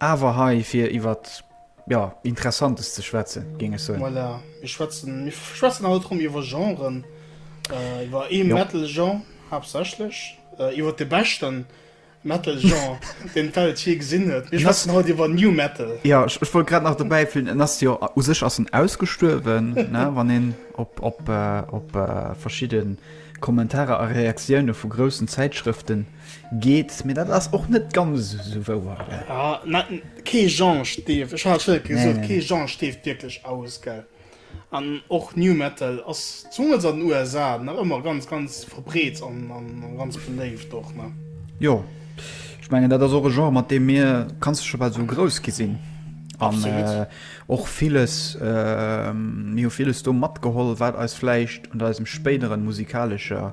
Awer hei fir iwwer jo Interessantes ze schwätzen, géing ech soen. Voilà, mir schwätzen, mir schwätzen haut erëm iwwer Genren, iwwer ee Metal-Genre haaptsächlech, iwwer de beschten Metal-Genre, deen d'Welt jee gesinn huet. Mir schwätzen haut iwwer New Metal. Jo, ech wollt grad nach dobäi füllen, en ass jo, u sech ass en ausgestuerwen, ne, wann een op verschidde Kommentarer a Reaktioune vu groussen Zäitschrëften. Geet, mee dat ass och net ganz esou wouer, gell? Ah, mä kee Genre stierft, ech hat et gesot, nee, kee Genre stierft wierklech aus, gell? An och New Metal ass zemools an den USA nach ëmmer ganz, ganz verbreet an ganz beléift och, ne? Jo, ech mengen, dat ass och e Genre, mat deem mir, kanns de scho bal esou grouss gi sinn. Absolut. An och viles, mir hu viles do matgeholl, wat eis vläicht an eisem spéideren musikalescher.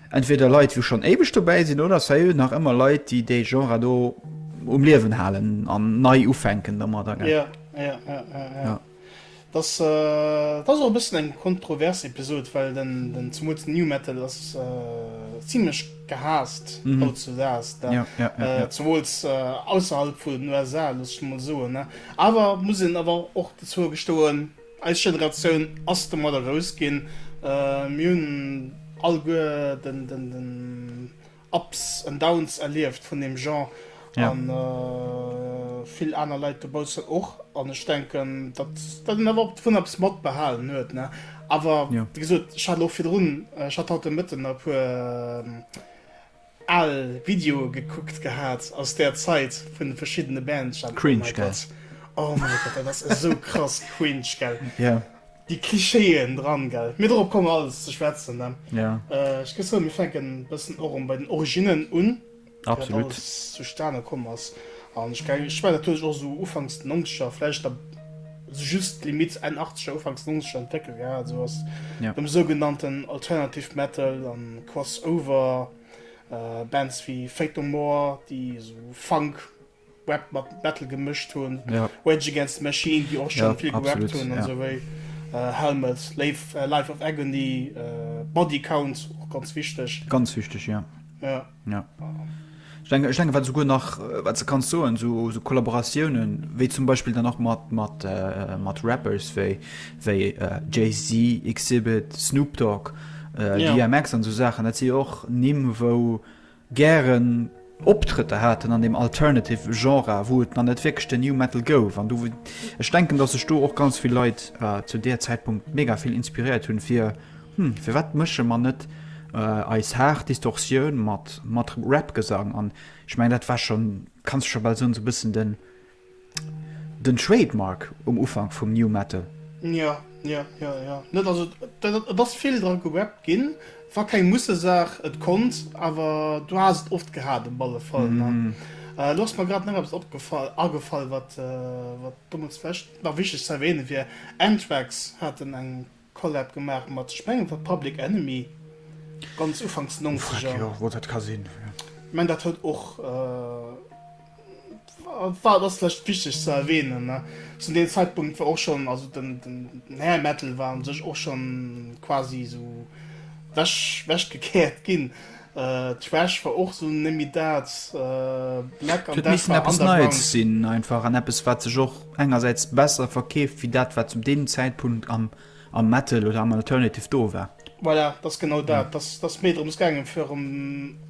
Entweder Leit wou schonn éiweg dobäi sinn oder et wier nach ëmmer Leit déi dee Genre do um Liewen halen an nei ufänken domadder gell. Ja, ja, ja, ja, ja. Et ass et ass och e bëssen eng kontrovers Episod, well den den zemools den New Metal ass zimlech gehaasst hautzudags da, zemools ausserhalb vun den USA, looss ech emol soen. Awer muss een awer och dozou gestoen, Eis Generatioun ass domadder grouss ginn. Mir hunn alleguer den Ups and Downs erlieft vun deem Genre a vill aner Leit dobaussen och. An ech denken, datt een awer och dovun eppes matbehalen huet. Awer wéi gesot, ech hat elo virdrun, ech hat haut de Mëtten e puer, Aal Videoe gekuckt gehaat aus der Zeit vun den verschiddenen Bands. Cringe gell? Oh mein Gott, dat ass esou krass cringe gell? Jo. Déi Klischeeën dran gell? Mee dorop komme mer alles ze schwätzen ne? Jo. Ech géif soen, mir fänken e bëssen erëm bei den Originnen un, wéi dat alles zustane komm ass. An ech mengen, dat huet sech och esou ufanks den Nonzeger vläicht a. just Limitt Enn 80er, Ufanks 90er entwéckelt ginn ass. Esou ass dem sougenannten Alternative Metal a Crossover Bands wéi Faith No More, déi esou Funk, Rap mat Metal gemëscht hunn, Rage Against the Machine, déi och scho vill gerappt hunn, esou wéi Helmet, Life of Agony, Body Count, och ganz wichteg. Ganz wichteg, jo. Ja. Ech denken, ech denken wat souguer nach, wat se kanns soen, sou, sou Kollaboratiounen, wéi zum Beispiel dann nach mat, mat, äh, mat Rappers wéi, wéi äh, Jay-Z, Xzibit, Snoop Dogg, äh, Ja. DMX an sou Saachen, dat si jo och Nimm, wou gären Optrëtter haten an dem Alternative Genre, wou et nach net wierklech den New Metal gouf. An du, ech denken, datt sech do och ganz vill Leit äh, zu där Zäitpunkt mega vill inspiréiert hunn, fir Hm, firwat mësche mer net eis haart Distortioun mat mat Rap-Gesang? An ech mengen, dat war schonn, kanns de scho bal soen, esou e bëssen den den Trademark um Ufank vum New Metal. Jo, jo, jo, jo. Net, also et ass vill dra gerappt ginn. Et war keng Mussesaach, et konnt, awer du has et oft gehat op alle Fall. Lo ass mer grad nach eppes opgefall, agefall, wat wat domat vläicht nach wichteg ze erwähne wier, Anthrax haten eng. Collab gemaach mat, ech mengen et war Public Enemy, ganz ufanks Nongzeger. Jo, wou dat ka sinn. Ech mengen dat huet och, war, ass vläicht wichteg ze erwähnen, ne, zu deem Zeitpunkt war och schonn, also den, den Hair Metal war u sech och schonn quasi esou wech, wech gekehrt ginn. D'Schwäch war och sou nemmi daat Black an Death war underground. Et misst eppes Neies sinn einfach an eppes wat sech och engersäits besser verkeeft wéi dat wat zum deem Zäitpunkt am am Metal oder am Alternative do war. Voilà, dat ass genau dat. Dat ass méi drëms gaangen fir erëm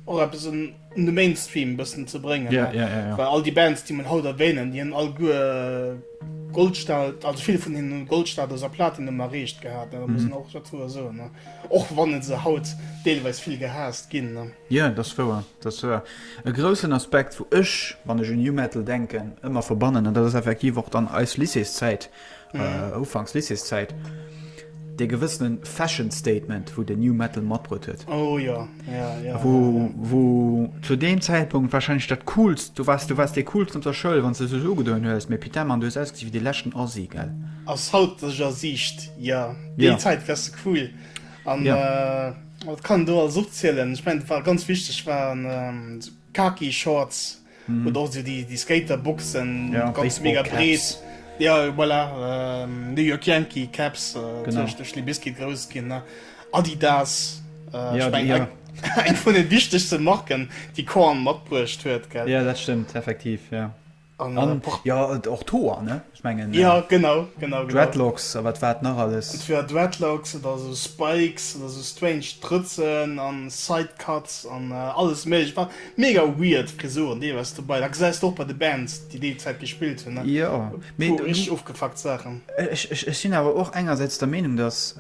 och eppes un de Mainstream e bëssen ze bréngen. Ja, ja, ja, ja. Well all déi Bands déi mer haut erwähnen, déi hunn alleguer Goldsta-, also vill vun hinnen hunn Goldstatus a Platinum erreecht gehat, dat muss een och dozou soen. Och wann se haut deelweis vill gehaasst ginn. Jo, dat ass wouer. Dat ass wouer. E groussen Aspekt, wou ech, wann ech un New Metal denken, ëmmer verbannen, an dat ass effektiv och dann eis Lycéeszäit, ufanks Lycéeszäit, dee gewëssene Fashion Statement, wou den New Metal matbruet huet. Oh jo, ja, ja. Wou, wou zu deem Zäitpunkt warscheinlech dat Coolst, du waars, du waars dee Coolsten op der Schoul, wann s de sech ugedoen hues, mee putain, Mann, du hues ausgesi wéi dee leschten Assi, gell? Ass haut, dass ech Assi, ja. Déi ja. Zäit wärst du queer. An ja. äh, wat kann do alles opzielen? Ich mein, war ganz wichtig waren ähm, so Kaki Shorts mhm. oder auch so die, die Skaterboxen ja, ganz mega brees. Ja voilà, ähm, New York Yankee Caps äh, Libiski groß gin Adidas äh, ja, die, ja. eng vun den wichtigste Marken, die Korn matbruecht huet. Ja dat stimmt effektiv. Ja. An Por- Ja, et- och d'Hoer, ne? Ech mengen, Ja, genau, genau, genau. Dreadlocks a wat war et nach alles? Entweder Dreadlocks oder esou Spikes oder esou strange Drëtzen an Sidecuts an alles Méiglecht. War mega weird Frisuren deelweis dobei. Da gesäis de och bei de Bands, déi déi Zäit gespillt hunn, ne? Jo, mee Puer du, richteg ofgefuckt Saachen. ech, ech, ech sinn awer och engersäits der Meenung, dass,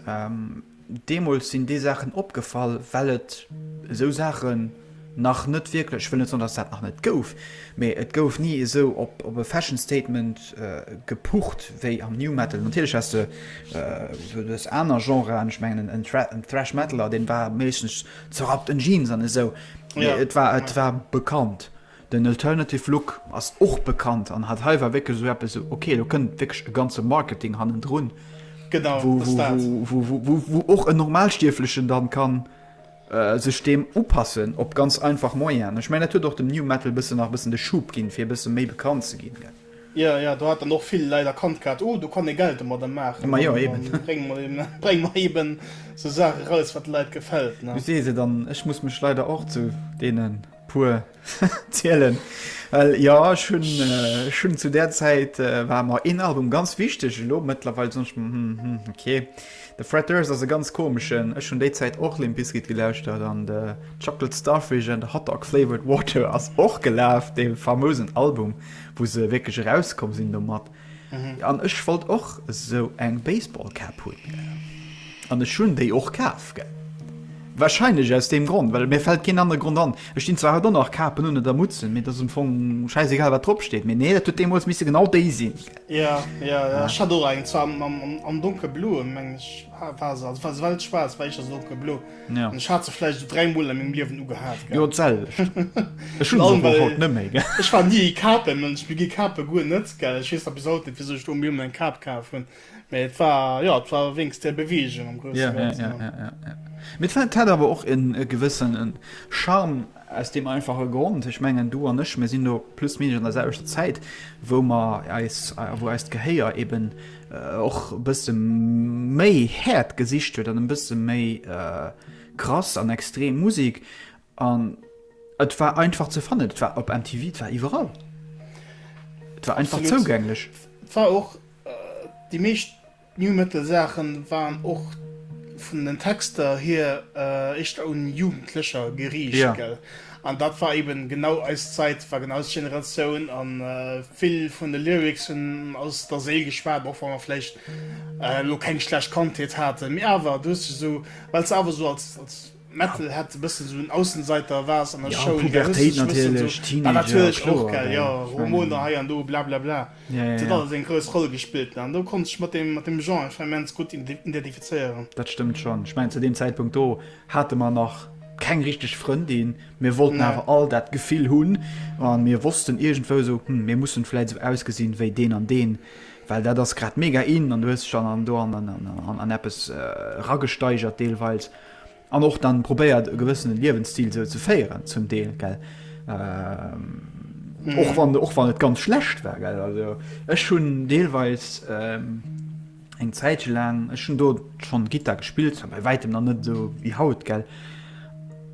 Deemools sinn déi Saachen opgefall, well et esou Saachen nach net wierklech, ech wëll net soen, datt et dat nach net gouf, mee et gouf ni esou op e Fashion Statement gepucht wéi am New Metal. Natierlech häss de duerch aner Genren, ech mengen en Thrash Metaler, dee war meeschtens zerrappten Jeans an esou, mee et war bekannt. Den Alternative Look ass och bekannt an hat hei war wierklech esou eppes esou, ok, do kënnt wierklech e ganze Marketing hannendrun, wou och en Normalstierflechen da ka sech deem upassen op ganz einfach Moyenen. Ech mengen, dat huet och dem New Metal e bëssen nach e bëssen de Schub ginn, fir e bësse méi bekannt ze ginn. Jo, jo, do hat dann och vill Leit erkannt gehat, oh, do kann ee Geld domadder maachen, da brénge mer eeben esou Saache eraus, wat de Leit gefält. Du sees et, an ech muss mech leider och zu deenen. Puer zielen well jo ech hunn ech hunn zu där Zäit war mer een Album ganz wichteg elo mëttlerweil sinn ech hm hm hm ok de Fred Durst ass e ganz komeschen ech hunn déi Zäit och Limp Bizkit gelauschtert an de Chocolate Starfish and the Hot Dog Flavoured Water ass och gelaf dee famousen Album wou se wierklech erauskomm sinn domat An ech wollt och esou eng Baseball Cap hunn. An ech hunn déi och kaf, gell. Wahrscheinlech aus deem Grond, well mir fält keen anere Grond an. Ech dinn zwar haut och nach Kapen un oder Mutzen, mee dat ass am Fong schäisegal, wat drop steet. Mee nee, dat huet deemools misse genau déi sinn. Ja, ja, ja. Ech hat och eng, zwar am, am, am, am donkelbloe, meng ech, war se, also war se weltschwaarz, war éischter so donkelblo. Ja. Ech hat se vläicht esou 3 Mol a mengem Liewen ugehat, gell. Jo, d'selwecht. Ech hunn se och haut net méi, gell. Ech war ni ee Kape-Mënsch, mir gi Kape guer net, gell. Ech weess nach bis haut net, wisou ech do am Liewen eng Kap kaf hunn, mä et war, jo, et war wéinst där Beweegung am grousse Ganzen. Mee d'Fett hat awer och e gewëssene Charme. Aus deem einfache Grond, ech mengen, du an ech, mir sinn do plus minus an der selwechter Zäit, wou mer eis, wou eist Gehéier eeben och e bësse méi haart gesicht huet an e bësse méi krass an extrem Musek. An et war einfach ze fannen, et war op MTV, et war iwwerall, et war einfach zougänglech. Absolut, war och déi meescht. D'Nu Metal Saachen waren och vun den Texter hier éischter un Jugendlecher geriicht gell? An dat war eben genau eis Zait, war genau eis Generatioun an vill vun de Lyrics hun aus der Séil geschwaat, och wann mer vläicht elo keng schlecht Kandheet haaten, mee awer du hues dech esou, well se awer esou als Metal hätt e bëssen esou en Aussenseiter-Vibes an der Schoul. Jo, Pubertéit natierlech, Teenager, kloer. Dat war natierlech och, gell, jo, Hormoner hei an do, blablabla. Dat huet alles eng grouss Roll gespillt. An do konnt ech mech mat deem Genre einfach immens gutt identifizéieren. Dat stëmmt schonn. Ech mengen, zu deem Zäitpunkt do hate mer nach keng richteg Frëndin. Mir wollten awer all dat Gefill hunn a mir wossten iergendwou esou, Hm, mir mussen vläicht esou ausgesinn wéi deen an deen, well dat ass grad mega in. An du hues dech dann do an eppes eragesteigert deelweis. An och dann probéiert e gewëssene Liewensstil sou ze féieren zum Deel gell. Ähm. Mhm. och wann och wann et ganz schlecht war ge also ech hun deelweis ähm, eng Zäitche lang ech hun do schon Gitter gespielt bei weitem an net so wie haut gell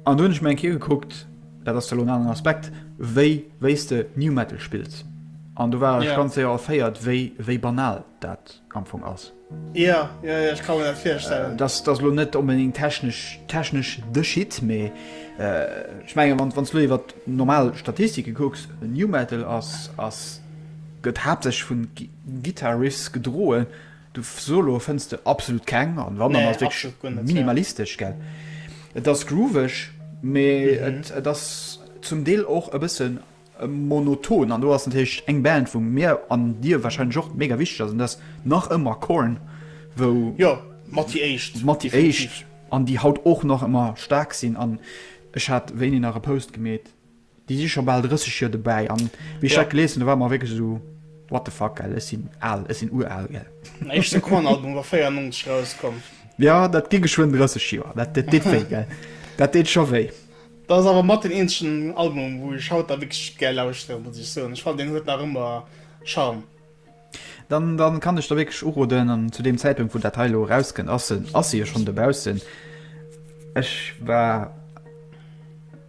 an du hunch meng Ki geguckt dat ass lo an Aspekt wéi wéiste new metal spills an du war yeah. ganz séier erféiert wéi wéi banal dat amfong ass Jo, jo, jo, ech ka mer dat virstellen. Dat ass elo net onbedéngt technesch, technesch de Shit, mee ech menge wann, wann s du elo iwwer normal Statistike kucks, New Metal ass, ass, gëtt haaptsächlech vu Guitar Riffs gedroen. Du Soloe fënns de absolut keng an wann, dann ass et wierklech minimalistesch, gell. Et ass grooveg, mee et, et ass zum Deel och e bëssen. Monoton an do ass natierlech eng Band wou mir an dir wahrscheinlech och mega wichteg ass an dat ass nach ëmmer Korn wou jo mat déi éischt mat déi éischt an déi haut och nach ëmmer staark sinn an ech hat wéini nach e Post gemeet déi si scho bal 30 Joer dobäi an wéi ech dat gelies hunn da war et mer wierklech esou what the fuck gell ech sinn al ech sinn ural gell. Den éischte Korn Album war 94 erauskomm. Jo dat gi geschwënn 30 Joer dat deet wéi gell dat deet scho wéi. Dat ass awer mat deen eenzegen Album wou ech haut da wierklech gär lauschteren, muss ech soen. Ech fannen deen huet nach ëmmer Charme. Dann dann kann ech der wierklech uroden an zu deem Zäitpunkt wou dat hei elo erauskënnt ass en ass e jo schonn dobaussen. Ech war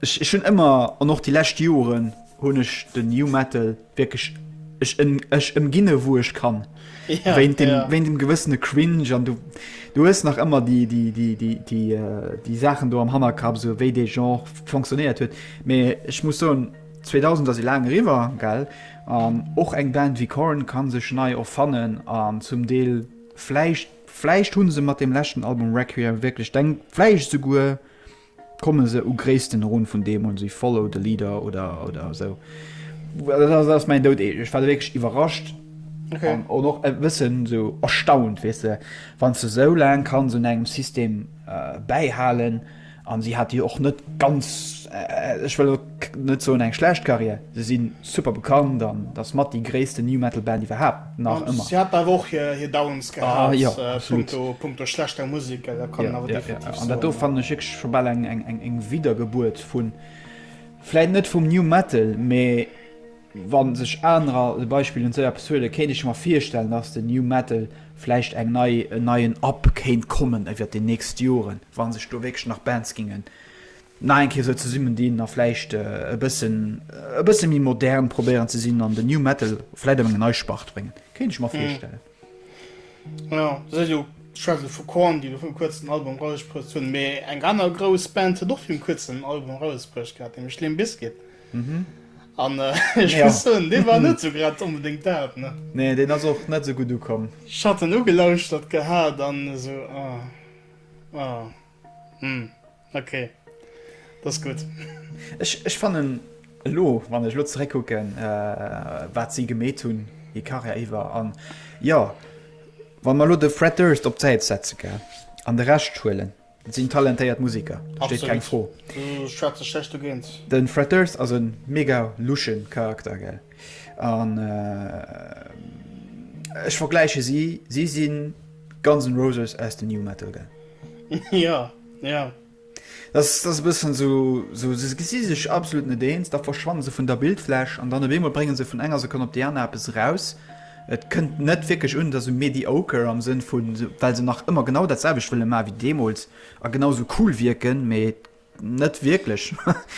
ech ech hunn ëmmer an och déi lescht Joren hunn ech de New Metal. Wierklech, ech ëm, ech ëmginne wou ech kann. Ja, wéint dem, ja. Wéint dem gewëssene Cringe an du, du hues nach ëmmer déi, déi, déi, déi, déi, déi Saachen do am Hannerkapp, sou wéi dee Genre fonctionnéiert huet. Mee ech muss soen, 2000 ass e laang eriwwer, gell? An och eng Band wéi Korn ka sech nei erfannen an zum Deel vläicht, vläicht hu se mat deem leschten Album Requiem wierklech, denk vläicht esouguer Komme se u Gréissten erun vun deem un, si follow the leader oder oder esou. Dat ass mäin Dout. Ech war wierklech iwwerrascht an och e bëssen esou erstaunt, weess de, wann se esou laang kann se un engem System bäihalen. An si hat déi och net ganz, ech wëll. net soen eng schlecht Carrière, se si super bekannt an dat ass mat déi gréissten New Metal Band iwwerhaapt, nach ëmmer. Si haten awer och hir Downs gehat punkto schlechter Musek, dat kann een awer definitiv soen. An dat do fannen ech wierklech scho bal eng Widdergebuert vu vläit net vum New Metal, mee wa sech anerer de Beispill un d'Soja Post huelen, kéint ech mer virstellen, datt den New Metal vläicht eng nei, en neien Up kéint kommen iwwert déi nächst Joren, wa sech do wierklech nach Bands géinge nach eng Kéier esou zesummen dinn a vläicht e bëssen e bësse méi modern probéieren ze sinn an den New Metal vläicht op eng nei Spart bréngen. Kéint ech mer virstellen. Jo, se huet jo, ech schwätze elo vu Korn, déi elo virum kuerzen en Album erausbruecht hunn, mee eng aner grouss Band huet och virum kuerzen en Album erausbruecht gehat, nämlech Limp Bizkit. An ech muss soen, dee war net esou grad onbedéngt dat, ne? Nee, deen ass och net esou gutt ukomm. Ech hat en ugelauschtert gehat an esou, ah, ah, hm. Ok, dat ass gutt. Ech fannen elo, wann ech elo zeréckkucken, wat si gemeet hunn hir Karriär iwwer, an jo, wa mer elo de Fred Durst op d'Säit setzen, gell, an de Rescht huelen, dat sinn talentéiert Museker, do steet keng Fro. Absolutt, do schwätze ech näischt dogéint. De Fred Durst ass e mega lusche Charakter, gell, an ech vergläiche si, si si Guns N' Roses aus dem New Metal, gell. Jo. Ja. Dass dass e bëssen sou sou se gesi sech absolut net eens, da verschwanne se vun der Bildfläch an dann op eemol brénge se vun enger Sekonn op déi aner eppes eraus. Et kënnt net wierklech un, et ass sou mediocre am Sënn vu well se nach ëmmer genau dat selwecht wëlle maache wéi deemools a genau sou cool wierken, mee et net wierklech.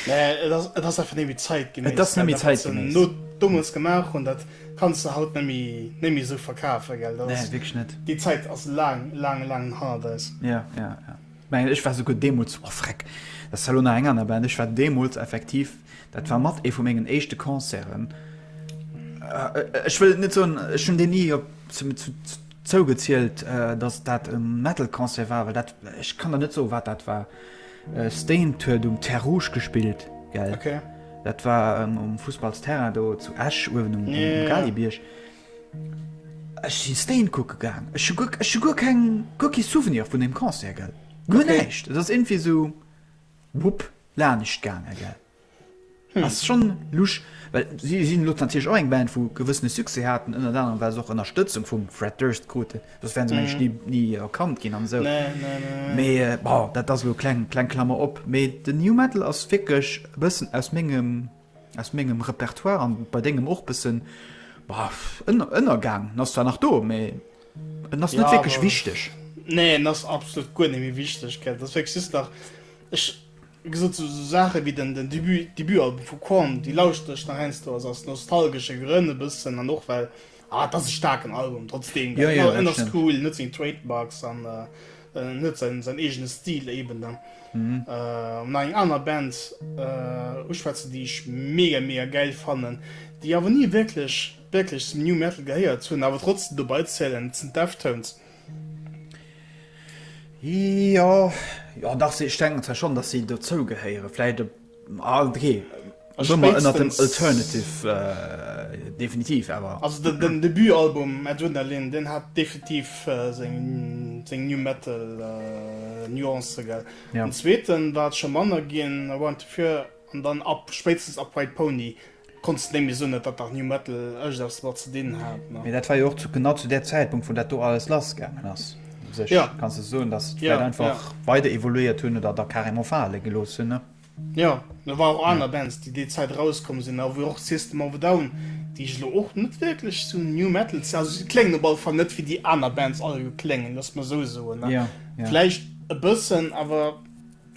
Nee, et ass et ass einfach némmi zäitgeméiss, well dat wat se no deemools gemaach hunn, dat. Kanns de haut nemme néi méi esou verkafen, gell? Dat ass, déi Zäit ass laang, laang, laang hannert eis. Jo, jo, jo. Mengen ech war souguer deemools, oh freck, dat ass zwar elo nach eng aner Band, ech war deemools effektiv, dat war mat ee vu mengen éischte Concerten, ech wëll et net soen, ech hunn deen ni op, zu, zu, Zougezielt, datt dat e Metal-Concert war, well dat, ech kann der net soen, wat dat war. Staind huet um Terre Rouge gespillt, gell? Dat war um Fussballsterrain do zu Esch, uewen um Galibierg. Ech si Staind kucke gaang. Ech hu guer, ech hu guer keng, guer kee Souvenir vun deem Concert, gell? Guer näischt. Et ass iergendwéi esou, wupp, lanischt gaangen, gell? Hm. Ass schonn lusch, well si sinn elo natierlech och eng Band, wou gewëssene Succès haten, ënnert anerem well se och Ënnerstëtzung vum Fred Durst kruten, soss wären se mengen ech ni ni erkannt ginn an esou. Nee, nee, nee, nee. Mee bon, dat ass elo kleng kleng Klammer op. Mee den New Metal ass wierklech e bëssen aus mengem aus mengem Repertoire an bei dengem och bëssen ënner ënnergaang. En ass zwar nach do, mee en ass net wierklech wichteg. Nee, en ass absolut guer net méi wichteg, gell. Et ass wierklech just nach ech. Wéi gesot, sou Saache wéi den Debutalbum vu Korn, déi lauschtere ech nach heiansdo aus nostalgesche Grënn e bëssen an och well, ah, et ass e staarken Album trotzdeem, well en ass cool, en huet seng Trademarks an en huet säin eegene Stil eeben. Dann hu mer eng aner Band uschwätzen, déi ech mega, mega gäil fannen, déi awer ni wierklech, wierklech zum New Metal gehéiert hunn, awer trotzdem dobeizielen, dat sinn d'Deftones. Jo, jo dach ech denken zwar schonn, datt si dozou gehéieren. Vläicht e ah okay ech soe mer ënnert dem alternative definitiv awer. Also den den Debutalbum Adrenaline deen hat definitiv seng seng New Metal Nuancë gell. Den zweeten war et scho manner ginn, Around the Fur an dann ab spéitstens ab White Pony. Konns de némme soen, et hat dach New-Metal ëscht eppes domat ze dinn hat, ne? Mee dat war jo och zu genau zu där Zäitpunkt, wou dat do alles lass gaangen ass. U sech Ja. kanns de soen, dass se et Ja, vläicht ja. einfach weider evoluéiert hunn oder da carrément fale gelooss hunn, ne? Jo, da waren och aner Bands, déi déi Zäit erauskomm sinn, a wou och System of a Down, déi ech elo och net wierklech zu New-Metal ze-, also si kléngen op alle Fall net wéi déi aner Bands alleguer kléngen, looss mer esou soen, ne? Jo, jo. Vläicht e bëssen, awer.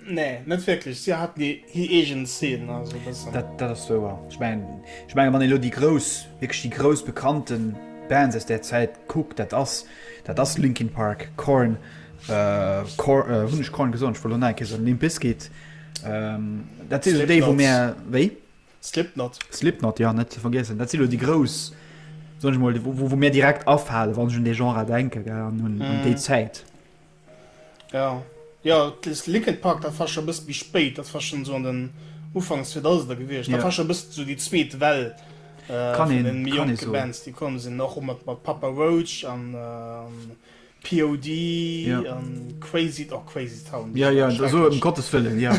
Nee, net wierklech. Si hat hir eegen Szenen, also e bëssen. Dat, dat ass wouer. Ech mengen, ech mengen, wann een elo déi grouss, wierklech déi grouss bekannte Bands aus där Zäit kuckt, dat ass, dat ass Linkin Park, Korn, Kor, hunn ech Korn gesot? Ech wollt elo nait Käse soen, Limp Bizkit, dat si déi, wou mär, wéi? Slipknot. Slipknot, jo, net ze vergiessen. Dat si elo déi grouss, soen ech emol, wou, wou mär direkt afalen, wann ech un dee Genre denken, gell, an un déi Zäit. Ja, jo, dest Liquid Park dat war schon e bësst méi spéit, dat war schon esou an den Ufanks 2000er gewiescht, dat war schon e bësst esou déi zweet Well vun den méi jonke Bands déi komm sinn, och mat Papa Roach an POD an Crazy, oh Crazy Town, jo jo, esou ëm Gottes Wëllen, jo,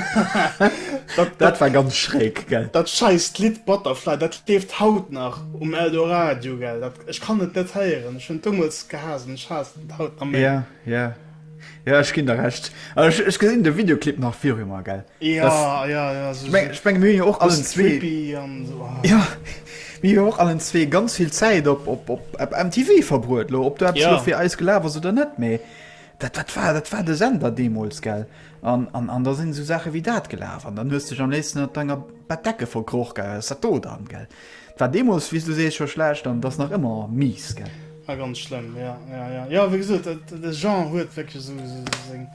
dat war ganz schräg, gell. Dat scheisst Lidd Butterfly, dat leeft haut nach um Eldoradio, gell, dat, ech kann et net héieren, ech hunn et deemools gehaasst an ech haassen et haut nach. Haut am Mee. Ja, ja. Ja, ech ginn der Recht. Ech, ech gesinn de Videoclip nach viru mer, gell? Ja, das, ja, ja. Also, ich mein, mir jo och allen zwee. So. Ah. Ja, mir jo och allen zwee ganz vill Zäit op, op, op, op MTV verbruet, lo. Ob du etwas ja. fir eis gelaf ass oder net, méi. Dat, dat, war, dat war de Sender demols, gell? An, an, an da sinn so Sache wéi dat gelaf. An dann hues du am nächsten an denger Bettdecke verkroch, gell? Ist dat do dann, gell? 't war deemols, wéi s du sees, scho schlecht an 't ass nach ëmmer mies, gell? A ganz schlëmm, jo, jo, jo. Jo, wéi gesot, de Genre huet wierklech esou seng,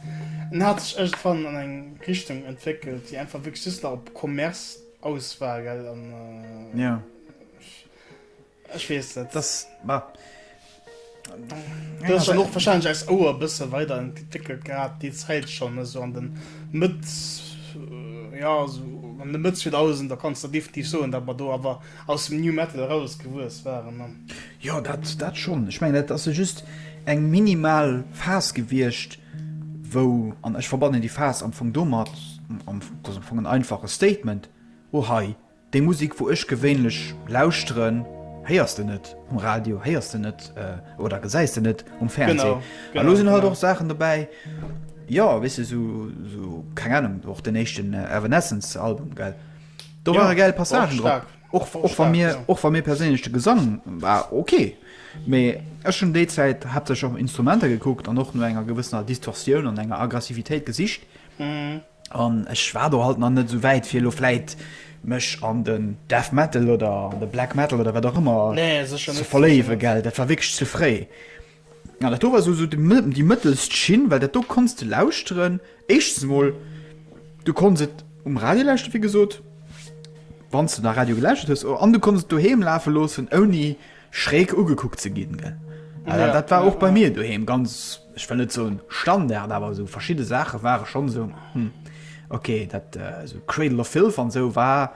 en hat sech iergendwann an eng Richtung entwéckelt, déi einfach wierklech just nach op Commerce aus war, gell? An, ech weess net. 't ass, bah, Dat ass dann och wahrscheinlech eis Ouer e bësse weider entwéckelt gehat déi Zäit schonn, esou an de Mëtt, jo esou an de Mëtt 2000er kanns de definitiv soen, datt mer do awer aus dem New Metal eraus gewuess waren. Jo, dat, dat schonn. Ech mengen, dat ass jo just eng minimal Phas gewiescht, wou, an ech verbannen déi Phas am Fong domat, am, dat ass am Fong en einfache Statement, oh hei, Déi Musik wou ech gewéinlech lauschteren héiers de net um Radio, héiers de net oder gesäis de net um Fernsee. A lo sinn halt och Saachen dobäi, jo weess de sou, keng Anung, och den éischten Evanescence Album gell, do ware gäil Passagen drop, och wa mir perséinlech de Gesang war ok, mee ech hunn déi Zäit haaptsächlech och Instrumenter gekuckt an och no enger gewëssener Distorsioun an enger Aggressivitéit gesicht. An ech war do halt nach net esou wäit fir elo vläit mech an den Death Metal oder an de Black Metal oder wat och ëmmer ze verléiwe, gell. Dat war wierklech ze fréi. An dat do war esou déi mëttelst Schinn, well dat do konns de lauschteren. Éischtens emol, du konns et um Radio lauschteren, wéi gesot, wann s de nach Radio gelauschtert hues. An du konns et doheem lafe loossen, ouni schräg ugekuckt ze ginn, gell. Dat war och bei mir doheem ganz. ech wëll net soen Standard, awer esou verschidde Saache ware schonn esou, hm, okay, dat esou Cradle of Filth an esou war,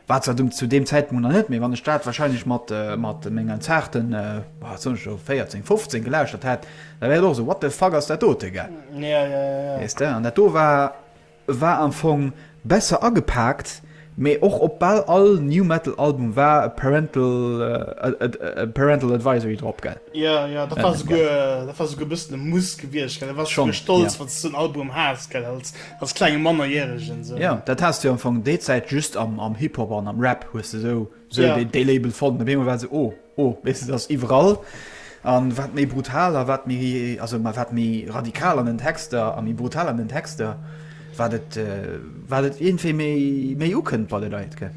war zwar zu deem Zäitpunkt nach net, mee wann ech dat wahrscheinlech mat, mat mengen zarten, wat soen ech elo, 14, 15 gelauschtert hätt, da wär et och esou, what the fuck ass dat dote, gell? Jo, jo, jo. Weess de? An dat do war. War am Fong besser agepaakt, mee och op bal all New Metal Album war e Parental Advisory drop, gell? Jo, jo, dat war souguer, dat war souguer e bëssen e Muss gewiescht, gell? Du waars souguer stolz, wann s de sou en Album haas, gell, als, als klenge Mannerjäregen esou. Jo, dat haas du am Fong déi Zäit just am Hip-Hop an am Rap, hues de esou. Sou dee, dee Label fonnt an op eemol war et sou, oh, oh, weess de, dat ass iwwerall. An wat méi brutal a wat méi, also ma wat méi radikal an den Texter a méi brutal an den Texter, wat et, wat et iergendwéi méi, méi ukënnt bei de Leit, gell?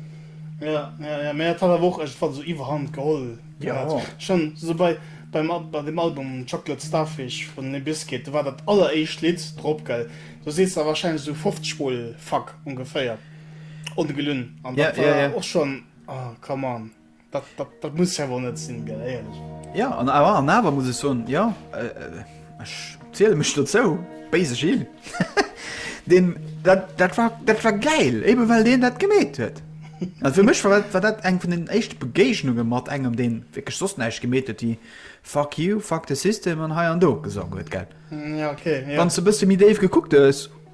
Ja, ja, ja, mä et hat awer och iergendwann esou Iwwerhand geholl gehat. Schonn esou bei, beim, bei deem Album Chocolate Starfish vun Limp Bizkit, do war dat alleréischt Lidd drop, gell, do sees de wahrscheinlech esou 50 mol Fuck, ongeféier. Ongelun. An dat war ja, ja. och schon oh, come on. Dat, dat, dat muss ja wohl net sinn gell ehrlich. Ja an awer an awer muss ech soen ja ech äh, äh ziele mech dozou béise Gil. Den dat, dat, war, dat war geil eben well deen dat gemeet huet. Also für mich war, war dat eng vun den echt Begegnunge mat engem den wirklich sos neich gemeet huet die fuck you, fuck the system an hei an do gesang huet gell. Mm, ja, okay, ja. Wann ze bësse mi Dave gekuckt hues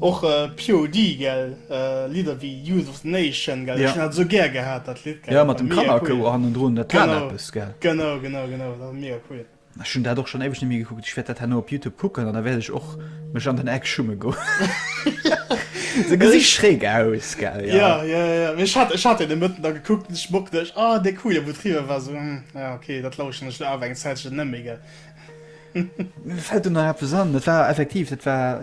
Och POD gell, Lidder wéi Youth of the Nation gell, ech hun dat esou gär gehat dat Lidd gell, mega cool, genau, genau, genau, genau, dat war mega cool. Ech hun dat och schon éiweg net méi gekuckt, ech wärt dat herno op Youtube kucken an da wärt ech och mech an den Eck schumme goen, se gesi schräg aus gell. Jo jo jo, mee ech hat deen de Mëtten da gekuckt an ech mocken dech, ah dee coole wou driwwer war, sou hm, ah ok dat lauschen ech lo awer eng Zäitchen net méi gell. Mir fällt do nach eppes an, dat war effektiv, dat war,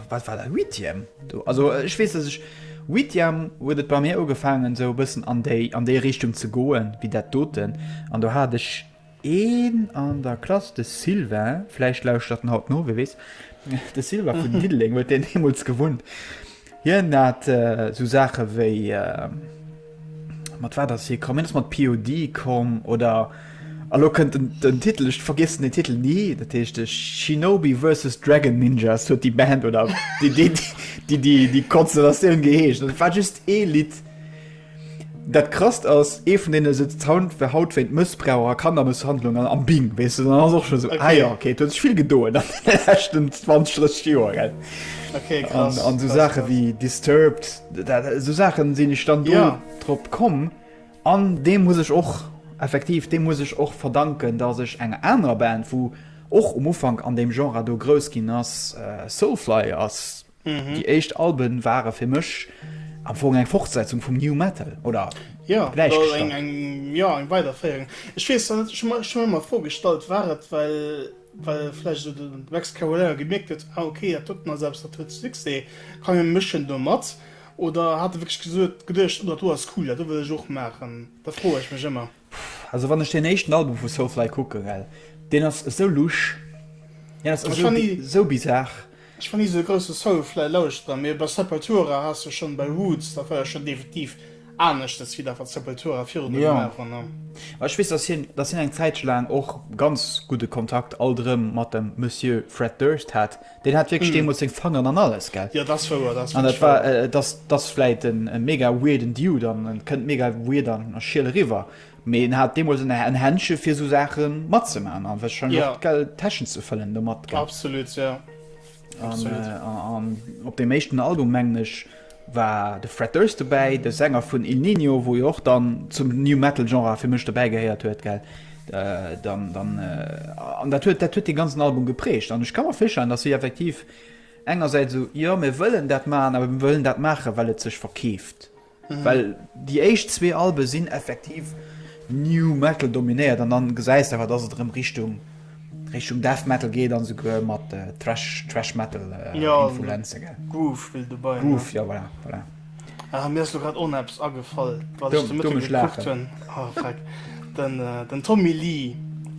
wat war dat, Huitième do. Also ech weess, dass ech Huitième huet et bei mir ugefaangen esou e bëssen an déi, an déi Richtung ze goen, wéi dat doten. An do hat ech een an der Klass, de Sylvain, vläicht lauschtert en haut no, wie weess, de Sylvain vun Diddeleng huet deen deemools gewunnt. Hien hat esou Saache wéi, mat wat ass hie komm? Hien ass mat POD komm oder elo kënnt den Titel, ech vergiessen den Titel ni, dat heescht Shinobi versus Dragon Ninjas huet déi Band oder déi Konstellatioun geheescht. Dat war just ee Lidd. Dat krasst ass ee vun den se Sound fir haut wéint Mëssbrauch a Kannermësshandlung an am Bing wees du ass och schon so okay. ah, okay. huet vill gedoen anchten 20 Joer okay, an so Sache krass. wie disturbed so Sachen sinn ich stand ja. trop kom an dem muss ich och effektiv dem muss ich och verdanken dat sech enger aner Band wo och um Ufang an dem Genre do grous ginn ass äh, Soulfly ass Déi éischt Alben ware fir mech am Fong eng Fortsetzung vum New Metal oder gläichgestallt. Jo, eng Weiderféierung. Ech weess net, ech hu mer ëmmer d'Fro gestallt, war et well vläicht esou de Max Cavalera gemierkt huet, ah ok, dat huet nach eppes, dat huet Succès, komm mir mëschen do mat? Oder hat e wierklech geduecht, oh dat do ass cool, dat do wëll ech och maachen? Dat froe ech mech ëmmer. Pff, also wann ech deen éischten Album vu Soulfly kucken, gell, deen ass esou lusch, deen ass esou, esou bizarre. Ech war ni esou de grousse Soulfly-Lauschterer, mee bei Sepultura has de schonn, bei Roots, dat war jo schonn definitiv aneschters wéi dat, wat Sepultura virdru gemaach hunn. Jo, ma ech weess, dass hien, dass hien eng Zäitche laang och ganz gudde Kontakt alt erëm mat dem Monsieur Fred Durst hat. Deen hat wierklech deemools seng Fangeren an alles, gell? Jo, dat ass wouer, dat ass wierklech wouer. An dat war, dat ass vläit e mega weirden Dude an e kënnt mega weird a schiel eriwwer, mee en hat deemools en Händche fir esou Saache matzemaachen a warscheinlech och, gell, d'Täschen ze fëllen domat, gell? Absolut, jo. An op deem éischten Album, mengen ech. war de Fred Durst dobäi, de Sänger vun Il Niño, wou jo och dann zum New Metal Genre fir mech dobäi gehéiert huet, gell? Dann, dann, an dat huet, dat huet dee ganzen Album geprägt. An ech ka mer virstellen, datt si effektiv engersäits esou, jo mir wëllen dat maachen, awer mir wëllen dat maachen, well et sech verkeeft. Well déi éischt zwee Albe sinn effektiv New Metal dominéiert an dann gesäis de awer, datt et erëm Richtung, Richtung Death Metal geet an souguer mat äh, Thrash, Thrash Metal äh, ja, Influenze gell. Groove spill du bei. Groove, ja voilà, voilà. Ah, mir ass du grad on Apps agefall wat du, du mich lachen hun oh, ah, den, äh, den Tommy Lee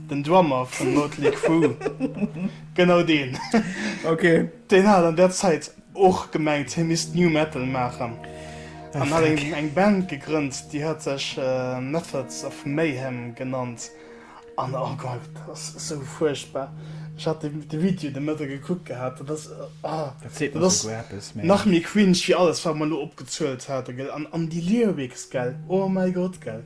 den Drummer vun Motley Crue genau den okay. den hat an der Zeit och gemengt him is new metal machen eng eng Band gegrënnt die hat sech äh, Methods of Mayhem genannt. An oh Gott, dat ass esou fuerchtbar. Ech hat de, de Video de Mëtte gekuckt gehat. Dat ass, oh, dat seet mer esouguer eppes. Mä. Nach méi cringe wéi alles, wat mer elo opgezuelt haten, gell? An, an déi Lyrics, gell? Oh mäi Gott, gell?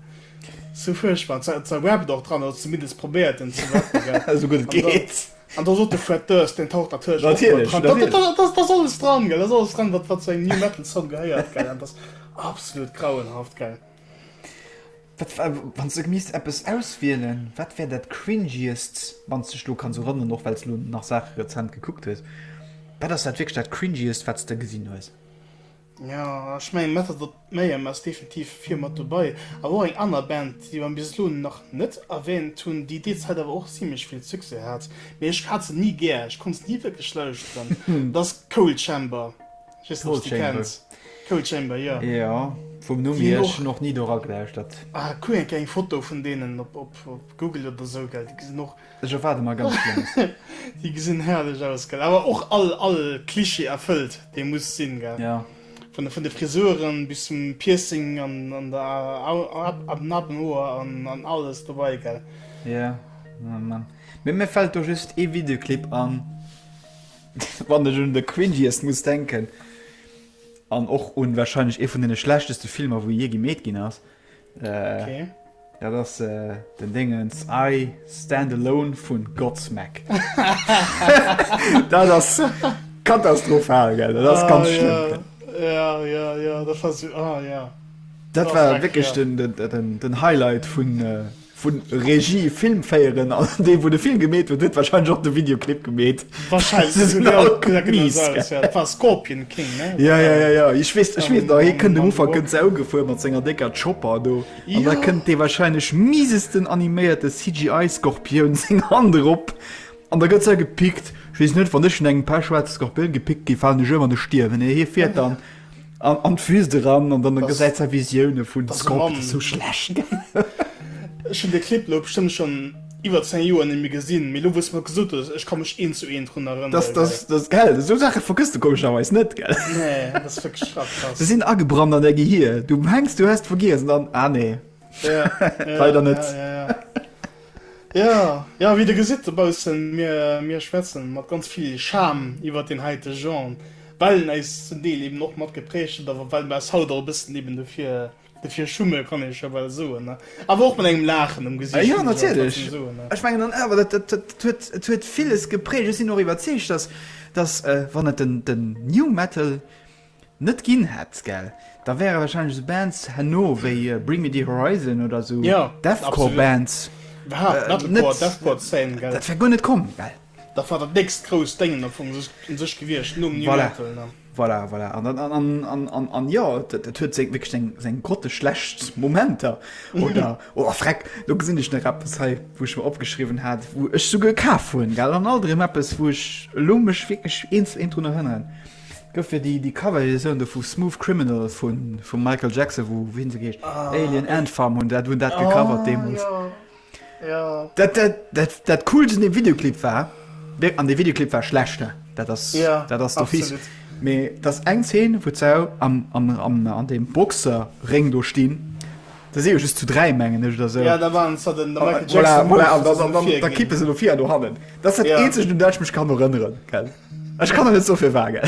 Sou fuerchtbar. An zwar, zwar rapped och dran, oder zumindest probéiert en ze rappen, gell? Esou gutt et geet. An da sot de Fred Durst, deen taucht natierlech och mat dran. Natierlech, natierlech. Dat, dat, dat, dat ass alles dran, gell? Dat ass alles dran, wat, wat zu engem New Metal Song gehéiert, gell? An dat ass absolut grauenhaft, gell? Wat war, wann s de gemisst eppes auswielen, wat wär dat Cringiest, wann s dech elo kanns erënneren, och well s elo nach Saache rezent gekuckt hues, wat ass dat wierklech dat Cringiest, wat s de gesinn hues? Jo, ech mengen Method of Mayhem ass definitiv vir mat dobei, awer och eng aner Band, déi mer bis elo nach net erwähnt hunn, déi déi Zäit awer och zimlech vill Succès hat, mee ech hat se ni gär, ech konnt se ni wierklech lauschteren, dat ass Coal Chamber. Just nach déi kennt. Coal Chamber, jo. Jo, vum Numm hier, ech hunn och ni do ragelauschtert. Ah, kuck eng Kéier eng Foto vun deenen op Google oder esou, gell, déi gesinn och. Ech erwaarde mer ganz Schlëmmes. Déi gesinn herrlech aus, gell, awer och all, all Cliché erfëllt, dee muss sinn, gell. Jo. Vun de Frisuren bis zum Piercing an der Nabenhoer an alles dobei, gell. Jo, oh Mann. Mee mir fält do just ee Videoclip an. Wann ech un de cringiest muss denken, an och un wahrscheinlech ee vun den schlechteste Filmer wou je gemeet ginn ass, dat ass den Déngens I Stand Alone vun Godsmack. Dat ass katastrophal, gell, dat ass ganz schlëmm. Dat war wierklech den Highlight vun. Vun Regie, Film féieren an dee wou de Film gemeet huet, huet wahrscheinlech och de Videoclip gemeet. Wahrscheinlech, se sinn all gutt mies gell. Dat war Scorpion King ne? Ja ja ja ja ech weess ech weess nach hie kënnt um Ufank kënnt se ougefuer mat senger décker Chopper do an da kënnt dee wahrscheinlech miesesten animéierte CGI Scorpioun seng Hand erop an da gëtt se gepickt. Ech weess net, wann ech vun engem Pechschwaarze Scorpioun gepickt gi faalen ech ëm an ech stierwen, nee hie fiert dann. An d'Wüst eran an dann gesäit säi Visioune vun de Sculpten sou schlecht aus. Ech hunn de Clip elo bestëmmt schonn iwwer 10 Joer nemmi gesinn, mee elo wou s de mer gesot hues, ech ka mech eent zu eent drun erënneren. Dat ass gell, esou Saache vergëss de komescherweis net, gell? Nee, dat ass wierklech schrap krass. Se sinn agebrannt an där Gehier. Du mengs du häss et vergiess an dann, ah nee, leider net. Jo, jo, wéi der gesitt dobaussen, mir, mir schwätzen mat ganz vill Charme iwwert deen heite Genre, well en äis zum Deel eben och mat geprägt huet, awer well mer äis haut och e bëssen eben dofir, dofir schumme, kann ee scho bal soen, ne, awer och mat engem Laachen um Gesicht, Jo, natierlech, ech mengen an awer dat, dat, dat huet, dat huet villes geprägt. Ech sinn och iwwerzeegt, dass, dass, wann et den, den New Metal Net ginn hätt gell? Da wäre wahrscheinlech sou Bands herno wéi Bring Me The Horizon oder sou Deathcore Bands net, dat wär guer net komm gell? Dat war dat nächst grousst Déngen am Fong un sech gewiescht nom New Metal ne? Voilà, voilà, an jo et huet wierklech seng grotteschlecht Momenter oder, oh freck, lo gesinn ech nach eppes hei wou ech mer opgeschriwwen hat wou ech souguer kaf hunn gell, an alt erëm eppes wou ech elo mech wierklech eens drun erënneren. Gouf fir déi Cover-Edition do vu Smooth Criminal vum Michael Jackson, wou, wéi hien esou geheescht? Alien Ant Farm hunn dat hunn dat gecovert deemools. Ah, jo, jo. Dat, dat, dat, dat Coolst un deem Videoclip war, an dee Videoclip war schlecht, hä? Dat ass, dat ass do fies. Mee et ass eng Zeen, wou d'Sau am, am, am, an deem Boxer-Réng do stinn. Da si jo just zu dräi, mengen ech, oder esou. Ja, da waren se den Michael Jackson. Voilà, voilà, an dann, dann, dann kippe se do vir do hannen. Dat ass dat Eenzegt, un dat ech mech kann erënneren, gell? Ech kann der net sou vill waren.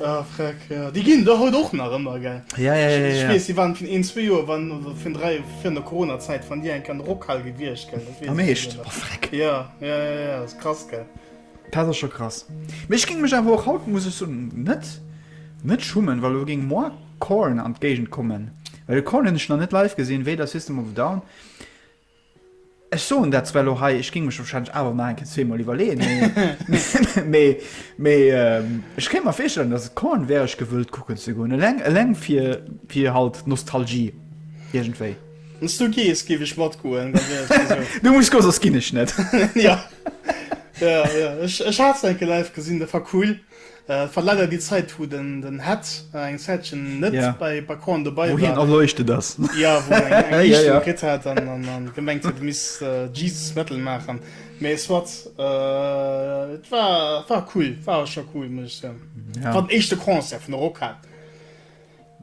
Ah freck ja déi ginn der haut och nach ëmmer gell ja ja ja ech weess déi waren vun een zwee Joer waren oder vun dräi Joer virun der Corona Zäit wann déi enke an der Rockhal gewiescht gell dat weess am Heescht oh freck ja ja ja ja dat ass krass gell dat ass scho krass mee ech géing mech awer och haut muss ech sou net net schummen well elo géing moi Korn an d'Géigend kommen well de Korn hunn ech nach net live gesinn weder System of a Down Ech soen dat zwar elo hei, ech géing mech warscheinlech awer nach eng Kéier zweemol iwwerleeën, mee, mee, mee ech kéint mer virstellen, datt et Korn wär, ech gewëllt kucken ze goen, eleng, eleng fir, fir halt d'Nostalgie iergendwéi. Wann s du gees, géif ech matgoen, da wär et jo esou. Du muss goen, soss ginn ech net. Jo, jo, jo, ech, ech hat se eng Kéier live gesinn, dat war cool. Et war leider déi Zäit wou den Head eng Zäitchen net bei Background dobei war. Wou hien erleuchtet ass. Jo, wou en eng Liichtung kritt hat an gemengt huet e misst Jesus Metal maachen. Mee soit, et war cool, war scho cool muss ech soen. War den éischte Concert vun der Rockhal.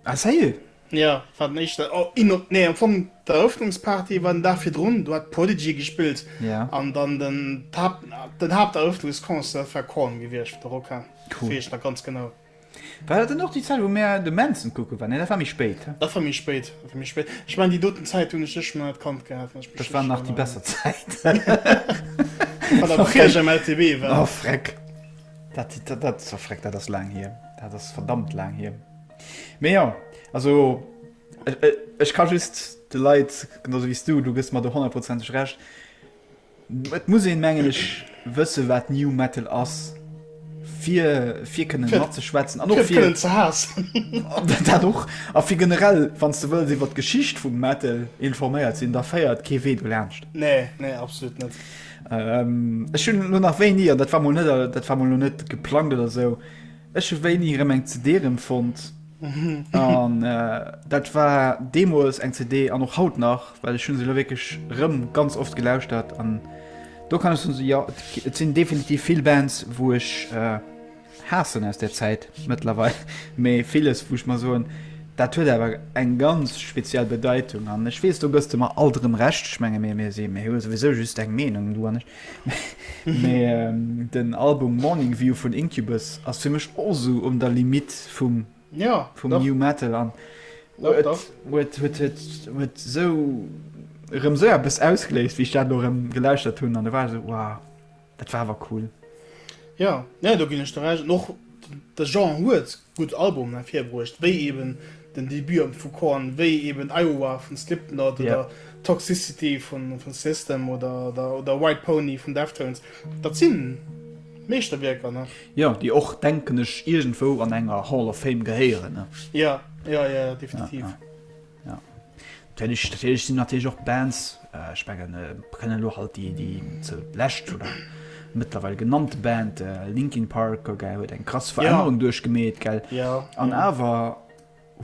Ah ça y est. Jo, war den éischten, oh in op, nee am Fong d'Eröffnungsparty war den Dag virdrun, do hat Prodigy gespillt yeah. an dann den Haupt, den Haupteröffnungsconcert war Korn gewiescht, der Rock am cool. Wees nach ganz genau. War dat dann och déi Zäit wou mir de Manson kucke waren? Nee dat war méi spéit. Dat war méi spéit, dat war méi spéit. Ech mein déi doten Zäit hunn ech sech nach net kannt gehat. Dat war nach déi besser Zäit. Wann der nach Cash am LTB war. Oh freck. Dat, dat, dat, oh freck, dat ass laang hier. Dat ass verdammt laang hier. Mee jo, also ech ka just de Leit, genauso wéi s du, du gëss mer do honnertprozenteg Recht, et muss een, mengen ech, wësse wat New Metal ass, fir, fir kënnen matzeschwätzen an och fir kënnen ze haassen. Dat och. A fir generell, wann s du wëlls, iwwer d'Geschicht vum Metal informéiert sinn, da féiert kee Wee dolaanscht. Nee, nee, absolut net. Ech hunn elo nach wéini, an dat war mol net, dat war mol elo net geplangt oder sou, Ech hu wéini erëm eng CD erëm fonnt an dat war deemools eng CD an och haut nach, well ech hunn se elo wierklech erëm ganz oft gelauschtert an do kann ech soen, esou jo, et sinn definitiv vill Bands, wou ech haassen aus där Zäit mëttlerweil, mee villes, wou ech mer soen, dat huet awer eng ganz speziell Bedeitung. An ech weess, do gëss de mer alt erëm Recht, ech menge mir si, mir hu souwisou just eng Meenung, du an ech, Mee den Album Morning View vun Incubus ass fir mech och sou un der Limitt vum New Metal an huet sou erëm sou eppes ausgeléist, wéi ech dat elo erëm gelauschtert hunn an da war ech sou, wow, dat war awer cool. Jo, do ginn ech der Recht. An och de Genre huet gutt Album ervirbruecht, wéi eben den Debut am vu Korn, wéi eben Iowa vun Slipknot oder Toxicity vun System oder White Pony vun Deftones. Dat si Meeschterwierker, ne? Jo, déi och, denken ech, iergendwou an enger Hall of Fame gehéieren, ne? Jo, jo, jo, definitiv. Ja. Natierlech, natierlech sinn natierlech och Bands, äh, ech mengen, äh, mer kënnen elo halt déi, déi ze lescht oder mëttlerweil genannt Band, äh, Linkin Park, ok, huet eng krass Ja. Verännerung duerchgemeet, gell? Ja. An ja. awer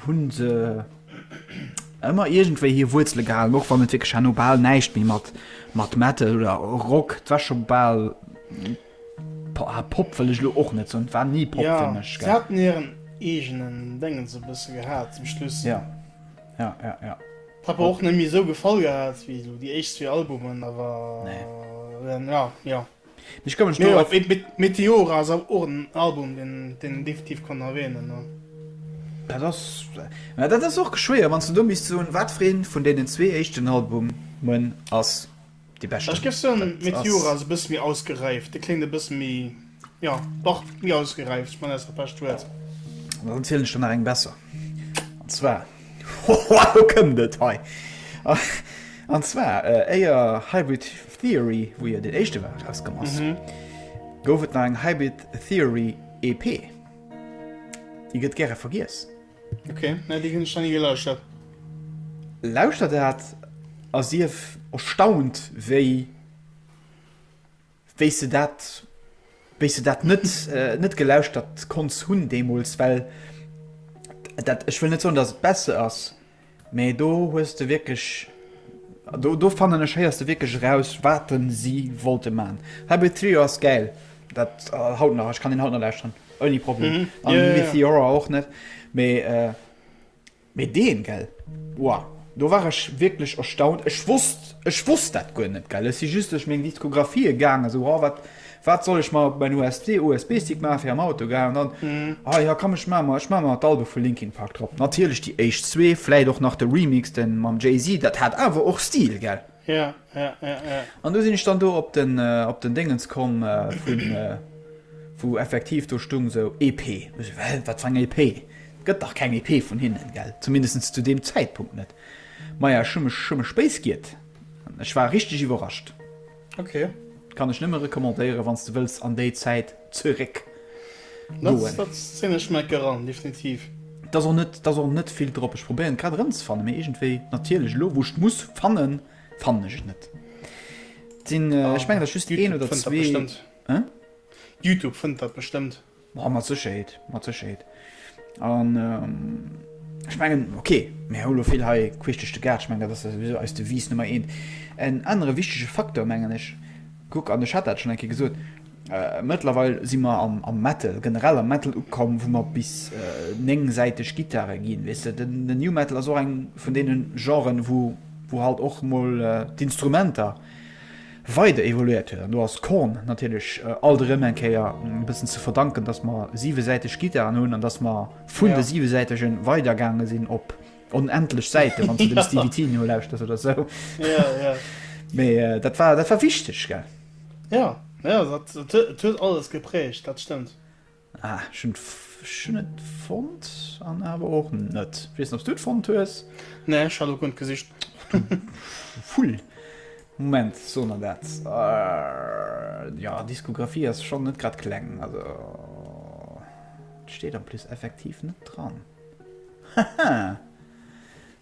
hunn se ëmmer iergendwéi hir Wuerzele gehalen, och wann et wierklech herno bal näischt méi mat, mat Metal oder Rock, et war scho bal Pah, Pop wëll ech elo och net soen, war ni Pop fir mech, gell. Jo, se haten hiren eegenen Déngens e bësse gehat zum Schluss. Jo, jo, jo, jo. Hat mer och net méi esou gefall gehat wéi esou déi éischt zwee Albumen, awer. Nee. Jo, jo. Mee ech ka mech do op. Mee Meteora ass awer och en Album, deen een definitiv kann erwähnen, jo. Dat ass, mä dat ass och schwéier, wann s de do misst soen, wat fir een vun deenen zwee éischten Albumen ass. Déi bescht Ech géif soen, dat Meteora ass. ass e bësse méi ausgeräift. Dee kléngt e bësse méi, jo, dach, méi ausgeräift. Ech mengen, dat ass dat bescht Wuert. An dann zielen ech der nach eng besser. An zwar, hohoa, lo kënnt et hei! An zwar, éier Hybrid Theory, wou jo deen éischte war, erauskomm ass, gouf et nach eng Hybrid Theory EP. Déi gëtt gäre vergiess. Okay, na, déi hunn ech nach ni gelauschtert. Lauschter dat a sief erstaunt, wéi wéi s de dat wéi s de dat net äh, net gelauschtert konns hunn deemools, well dat ech wëll net soen, datt et besser ass, Mee do hues de wierklech, do fannen ech héiers de wierklech eraus wat si wollte man. Hybrid Theory ass gäil, dat haut nach, ech kann deen haut nach lauschteren ouni Problem mm -hmm. yeah, yeah. Theora och net mee äh, mee deen gell wow. Do war ech wierklech erstaunt, ech wosst ech wosst dat guer net gell, si just duerch meng Diskografie gaange sou oh, wat Wat soll ech mer en USD-USB-Stick maachen fir am Auto gehaen an dann, ah ja komm ech maan mer, ech maan mer d'Album vu Linkin Park drop. Natierlech déi éischt zwee, vläit och nach de Remix de mam Jay-Z, dat hat awer och Stil, gell? Ja, ja, ja, ja. An du sinn ech dann do op den, op den Déngens komm vun, wou effektiv do stung sou EP. Ech sou, well wat fir eng EP? Et gëtt dach keng EP vun hinnen, gell? Zumindestens zu deem Zäitpunkt net. Maja, ech hu mech, hu mech béis giet. Ech war richteg iwwerrascht. Okay. Kann ech nëmme recommandéieren, wann s de wëlls an déi Zäit zeréck goen. Dat zéien ech mech eran, definitiv. Et ass och net, et ass och net vill drop. Ech probéieren et grad erëmzefannen, mee iergendwéi, natierlech, elo wou ech et muss fannen, fannen ech et net. Et sinn, ech mengen, et ass just een oder zwee. Youtube fënnt dat bestëmmt. Hein? Youtube fënnt dat bestëmmt. Ma mat Sécherheet, mat Sécherheet. An ech mengen, ok, mir hu lo vill hei queesch duerch de Gaart, ech mengen, dat ass souwisou eis Devise Nummer eent. En anere wichtege Facteur, mengen ech, kuck, an ech hat dat schonn eng Kéier gesot, mëttlerweil si mer am Metal, generell am Metal ukomm, wou mer bis néngsäiteg Gittare ginn, weess de. Den New Metal ass och eng vun deene Genren, wou halt och emol d'Instrumenter. weider evoluéiert huet an do ass Korn natierlech alt erëm eng Kéier e bëssen ze verdanken, dass mer siwesäiteg Gittaren hunn an dass mer vun de siwesäitege weidergaange sinn op onendlech Säiten, wann s de dem Stevie T nolauschters oder esou. Mee dat war wichteg, gell? Jo, jo, dat huet alles gepräägt, dat stëmmt. Ah, ech hunn ech hunn et fonnt an awer och net. Ech weess net, ob s du et fonnt hues. Nee, ech hat och guer gesicht. Vull. Moment, soen der dat? Jo, Diskografie ass schonn net grad kleng. Also, et steet en plus effektiv net dran. Haha!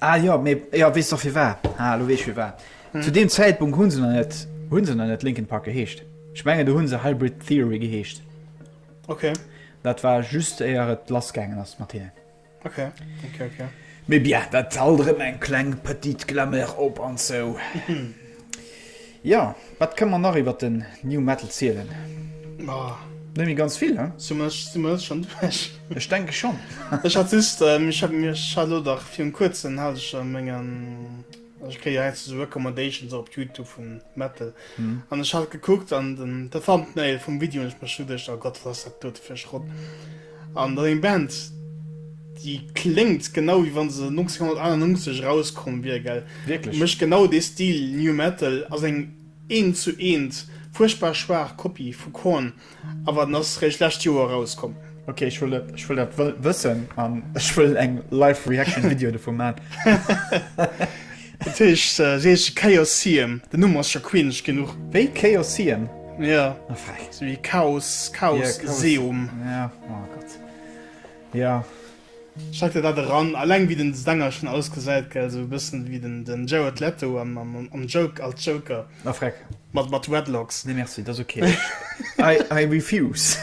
Ah jo, mee jo, weess dach firwar. Ah, elo weess ech firwar. Zu deem Zäitpunkt hu se nach net, hu se nach net Linkin Park geheescht. Ech mengen, do hu se Hybrid Theory geheescht. Okay. Dat war just éier et lass gaangen ass mat hinnen. Okay, okay, okay. Mee bien, dat alt erëm eng kleng petite Glamour op an zou. Jo, wat kënne mer nach iwwert den New Metal zielen? Net méi ganz vill, hein? Sou much si mer schon duerch. Ech denke schon. Ech hat just, ech hat mir, ech hat elo dach virun kuerzem hat ech a mengen, ech kréie jo heiansdo esou Recommendations och op Youtube vu Metal, an ech hat gekuckt an den, de Thumbnail vum Video, an ech mech scho geduecht, oh Gott, wat ass dat dote fir e Schrott. An dann eng Band, déi kléngt genau wéi wa se 1998 erauskomm wier, gell? Wierklech. Mécht genau dee Stil New Metal, ass eng eent zu eent fuerchtbar schwaach Kopie vu Korn, awer en ass réischt lescht Joer erauskomm. Ok, ech wëll dat, ech wëll dat wëssen an ech wëll eng Live-Reaction-Video dovu man. Dat heescht, se heesche Chaosium. Den Numm ass scho queenesch genuch. Wéi? Chaosium? Jo. A frech. Sou wéi Chaos, Chaos, Seum. Ja, oh Gott. Jo. Schreck der dat eran, alleng wéi den Sänger schon ausgesäit, gell, sou e bëssen wéi den den Jared Leto am am am Joke als Joker. A frech. Mat mat Dreadlocks. Nee merci, dat ass ok. I I refuse.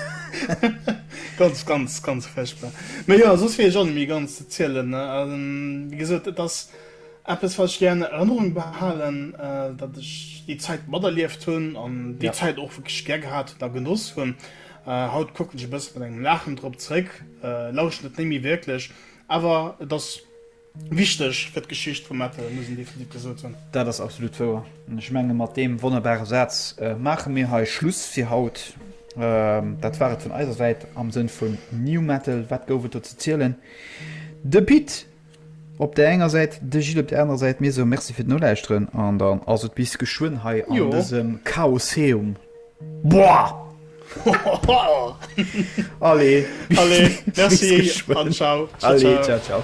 Ganz ganz ganz frechbar. Mee jo, soss wier ech och net méi ganz ze zielen, ne. Wéi gesot, et ass. Eppes wat ech gären an Erënnerung behalen, datt ech déi Zäit materlieft hunn an déi Zäit och wierklech gär gehat hunn a genoss hunn. Haut kucken ech e bësse mat engem Laachen drop zeréck, lauschten et net méi wierklech, awer et ass wichteg fir d'Geschicht vum Metal, muss een definitiv gesot hunn. Dat ass absolut wouer an ech menge mat deem wonnerbare Saz maache mir hei Schluss fir haut. Dat war et vun eiser Säit am Sënn vun New Metal, wat gouf et do ze zielen? De Pit! Op där enger Säit de Gilles, op där anerer Säit mir. Sou, Merci fir d'Nolauschteren an dann ass et bis geschwënn hei an jo. dësem Chaoseum. Boah! Allez, Allez, merci an ciao. Allez, ciao, ciao.